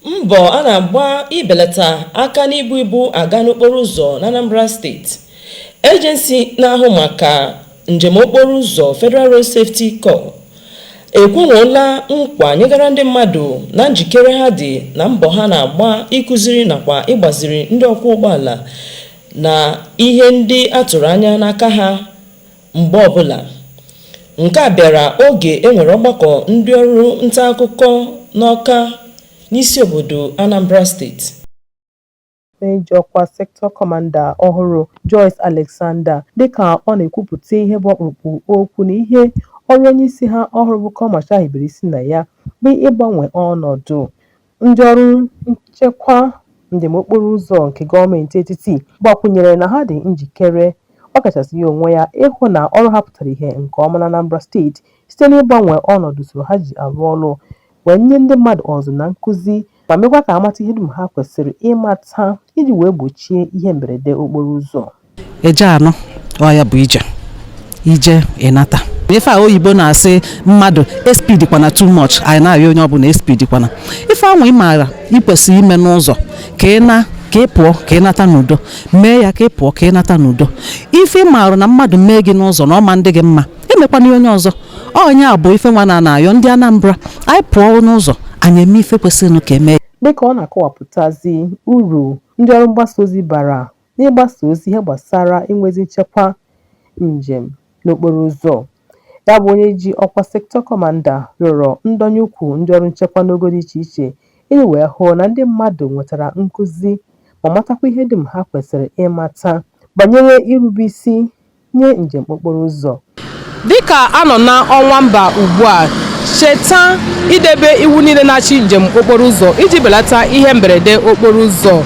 Mbọ a na-agba ibelata aka n'ibu ibu aga n'okporo ụzọ n'Anambra steeti. Ejensi na-ahụ maka njem okporo ụzọ Federal Road Safety Corps ekwunwoola nkwa nyegara ndị mmadụ na njikere ha dị na mbọ ha na-agba ịkụziri nakwa ịgbaziri ndị ọkwọ ụgbọala na ihe ndị a tụrụ anya n'aka ha mgbe ọbụla. Nke a bịara oge e nwere ọgbakọ ndị ọrụ nta akụkọ n'Ọka n'isi obodo Anambra steeti. Onye ji ọkwa Sector Commander ọhụrụ Joyce Alexander dịka ọ na-ekwupụta ihe bụ ọkpụrụkpụ okwu na ihe ọrụ onyeisi ha ọhụrụ bụ Corps Marshal hibere isi na ya bụ ịgbanwe ọnọdụ Ndị ọrụ nchekwa njem okporo ụzọ nke gọọmenti etiti gbakwụnyere na ha dị njikere ọ kachasị ya onwe ya ịhụ na ọrụ ha pụtara ihe nke ọma na Anambra steeti site n'ịgbanwe ọnọdụ usoro ha ji arụ ọrụ wee nye ndị mmadụ ọzụzụ na nkụzi ma mekwa ka a mata ihe dum ha kwesịrị ịmata iji wee gbochie ihe mberede okporo ụzọ. eje ana ọ ya bụ ije ije ịnata ife a oyibo na-asị mmadụ espeedkwana too much anyị na-ayọ onye ọbụna espeedkwana ife anwa ị maara ị kwesịrị ime n'ụzọ ka ị na ka ị pụọ ka ị nata n'udo mee ya ka ị pụọ ka ị nata n'udo ife ị maara na mmadụ mee gị n'ụzọ na ọ ma-adị gị mma emekwana ya onye ọzọ ọ ya bụ ife mwa na na-ayọ ndị Anambra anyị pụọ n'ụzọ anyị eme ife kwesịrịnụ ka e mee dịka ọ na-akọwapụtazi uru ndị ọrụ mgbasa ozi bara n'ịgbasa ozi ihe gbasara inwezi nchekwa njem n'okporo ụzọ. Ya bụ onye ji ọkwa Sector Commander rịọrọ ndọnye ukwu ndị ọrụ nchekwa n'ogo dị iche iche iji wee hụ na ndị mmadụ nwetara nkụzi ma matakwa ihe dum ha kwesịrị ịmata banyere irube isi nye njem okporo ụzọ. Dịka a nọ na ọnwa mba ugbua, cheta idebe iwu niile na-achị njem okporo ụzọ iji belata ihe mberede okporo ụzọ.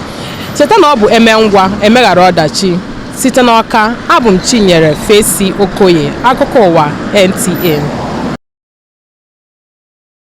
Cheta na ọ bụ e mee ngwa, e meghara ọdachi. Site n'Awka, abụ m Chinyere Fesi Okoye, akụkọ ụwa NTA.